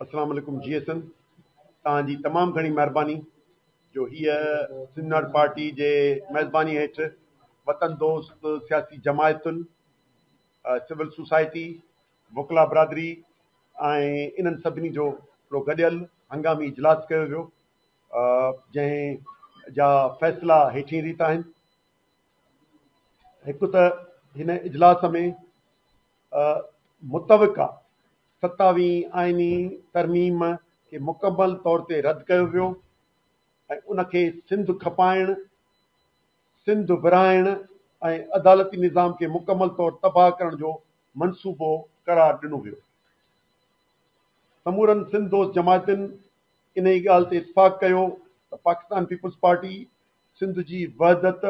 اسلام عليڪم جي ايس اين توهان جي تمام گهڻي مهرباني جو هيء سيمينار پارٽي جي ميزباني هيٺ وطن دوست سياسي جماعتن سول سوسائٽي وڪلا برادري ۽ انهن سڀني جو هڪڙو گڏيل هنگامي اجلاس ڪيو ويو جنهن جا فيصلا هيٺين ريت آهن هڪ ته هن اجلاس ۾ متوقع ستاويهين آئيني ترميم کي مڪمل طور تي رد ڪيو ويو ۽ ان کي سنڌ کپائڻ، سنڌ ورهائڻ ۽ عدالتي نظام کي مڪمل طور تباهه ڪرڻ جو منصوبو قرار ڏنو ويو. سمورن سنڌ دوست جماعتن انهيء ڳالهه تي اتفاق ڪيو ته پاڪستان پيپلز پارٽي سنڌ جي وحدت،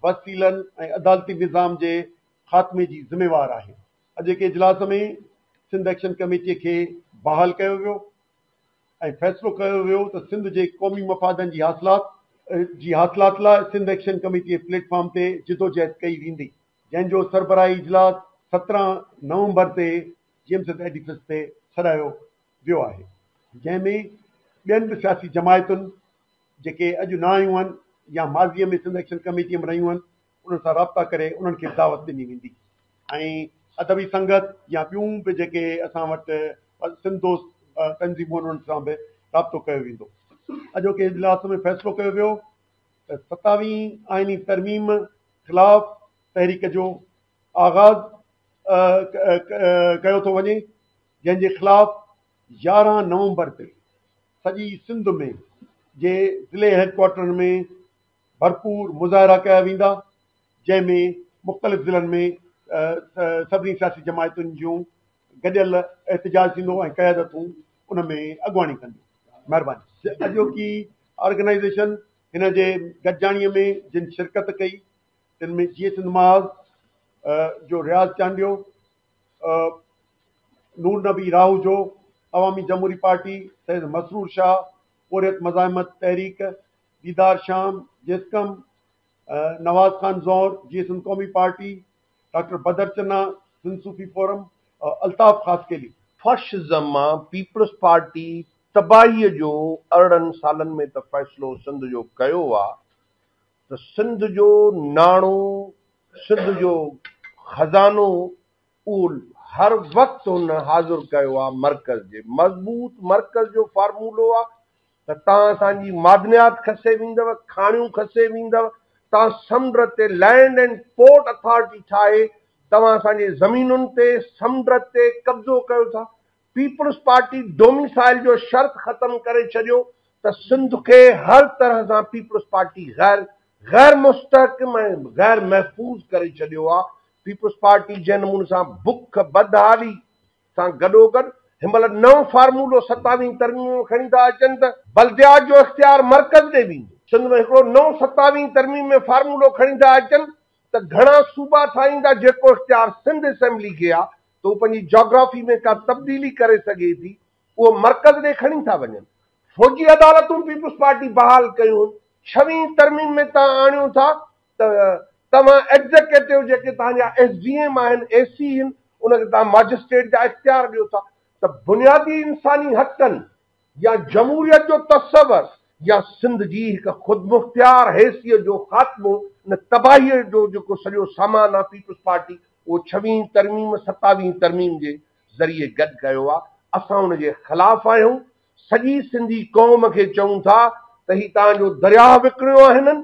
وسيلن ۽ عدالتي نظام جي خاتمي جي ذميوار آهي. اڄوڪي اجلاس ۾ سنڌ ايڪشن ڪميٽي کي بحال ڪيو ويو ۽ فيصلو ڪيو ويو ته سنڌ جي قومي مفادن جي حاصلات جي حاصلات لاء Sindh action committee platform تي جدوجهد ڪئي ويندي جنهن جو سربراهي اجلاس سترهن نومبر تي جي ايم سيد ايڊيفس تي سڏايو ويو آهي جنهن ۾ ٻين به سياسي جماعتن جيڪي اڄ نه آيون آهن يا ماضي ۾ سنڌ ايڪشن ڪميٽي ۾ رهيون آهن انهن سان رابطا ڪري انهن کي دعوت ڏني ويندي ۽ ادبي سنگت يا ٻيون به جيڪي اسان وٽ سنڌ دوست تنظيمون آهن انهن سان به رابطو ڪيو ويندو. اڄوڪي اجلاس ۾ فيصلو ڪيو ويو ته ستاويهين آئيني ترميم خلاف تحريڪ جو آغاز ڪيو ٿو وڃي جنهن جي خلاف يارهن نومبر تي سڄي سنڌ ۾ جي ضلعي هيڊ ڪوارٽرن ۾ ڀرپور مظاهرا ڪيا ويندا جنهن ۾ مختلف ضلعن ۾ سڀني سياسي جماعتن جون گڏيل احتجاج ٿيندو ۽ قيادتون ان ۾ اڳواڻي ڪنديون مهرباني اڄوڪي آرگنائيزيشن هن جي گڏجاڻي ۾ جن شرڪت ڪئي تن ۾ جيئي سنڌ محاذ جو رياض چانڊيو نور نبي راهوجو عوامي جمهوري پارٽي سيد مسرور شاهه پورهيت مزاحمت تحريڪ ديدار شام، جيسقم، نواز خان زئور، جيئي سنڌ قومي party, doctor Badar Channa, Sindh Sufi forum, Altaf Khaskheli. Fascism مان پيپلز پارٽي تباهيء جو ارڙهن سالن ۾ ته فيصلو سنڌ جو ڪيو آ ته سنڌ جو ناڻو، سنڌ جو خزانو اهو هر وقت هن حاضر ڪيو آ مرڪز جي مضبوط مرڪز جو فارمولو آ ته تان اسان جي معدنيات کسي ويندو، کاڻيون کسي ويندو، تان سمنڊ تي لينڊ اينڊ پورٽ اٿارٽي ٺاهي توهان اسان جي زمينن تي، سمنڊ تي، قبضو ڪيو ٿا، پيپلز پارٽي ڊوميسائل جو شرط ختم ڪري ڇڏيو ته سنڌ کي هر طرح سان پيپلز پارٽي غير غير مستحڪم ۽ غير محفوظ ڪري ڇڏيو آ، پيپلز پارٽي جنهن نموني سان بک، بدحالي، سان گڏوگڏ هن مهل نئون فارمولو ستاويهين ترميم ۾ کڻي ٿا اچن ته بلديات جو اختيار مرڪز ڏي ويندو، سنڌ ۾ هڪڙو نئون ستاويهين ترميم ۾ فارمولو کڻي ٿا اچن ته گهڻا صوبا ٺاهيندا جيڪو اختيار سنڌ اسيمبلي کي آ ته هو پنهنجي جاگرافي ۾ ڪا تبديلي ڪري سگهي ٿي اهو مرڪز ڏي کڻي ٿا وڃن. فوجي عدالتون پيپلز پارٽي بحال ڪيون هن ڇويهين ترميم ۾ تان آڻيو ٿا ته توهان ايگزيڪيٽو جيڪي توهان جا ايس ڊي ايم آهن، اي سي هن، ان کي توهان ماجسٽريٽ جا اختيار ڏيو ٿا ته بنيادي انساني حقن يا جمهوريت جو تصور يا سنڌ جي هڪ خودمختيار حيثيت جو خاتمو ان تباهيء جو جيڪو سڄو سامان آهي پيپلز پارٽي اهو ڇويهين ترميم ستاويهين ترميم جي ذريعي گڏ ڪيو آهي اسان ان جي خلاف آهيون سڄي سنڌي قوم کي چئون ٿا ته هي توهان جو درياهه وڪڻيو آهي هنن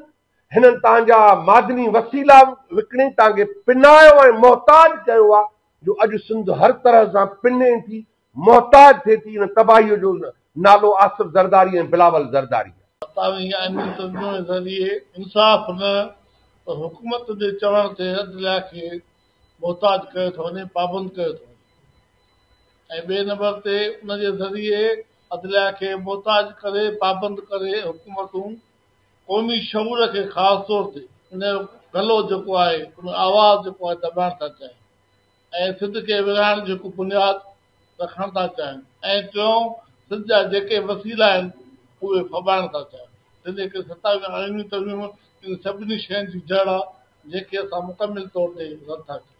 هنن تانجا معدني وسيلا وڪڻي تانکي پنايو ۽ محتاج ڪيو آ جو اڄ سنڌ هر طرح سان پني ٿي محتاج ٿي ٿي ان تباهي جو نالو آصف زرداري ۽ بلاول زرداري آ. فتاوي آئيني ترجمي ذريعي انصاف نه پر حڪومت جي چوڻ تي عدليا کي محتاج ڪيو ٿو وڃي پابند ڪيو ٿو وڃي ۽ ٻئي نمبر تي ان جي ذريعي عدليا کي محتاج ڪري پابند ڪري حڪومتون قومي شعور کي خاص طور تي ان جو گلو جيڪو آهي ان جو آواز جيڪو آهي دٻائڻ ٿا چاهيون ۽ سنڌ کي ورهائڻ جو هڪ بنياد رکڻ ٿا چاهيون ۽ ٽيون سنڌ جا جيڪي وسيلا آهن اهي ڦٻائڻ ٿا چاهيون جنهنجي ڪري ستاويهون آئيني ترميمون ان سڀني شين جي جڙ آهي جنهن کي اسان مڪمل طور تي رد ٿا ڪريون.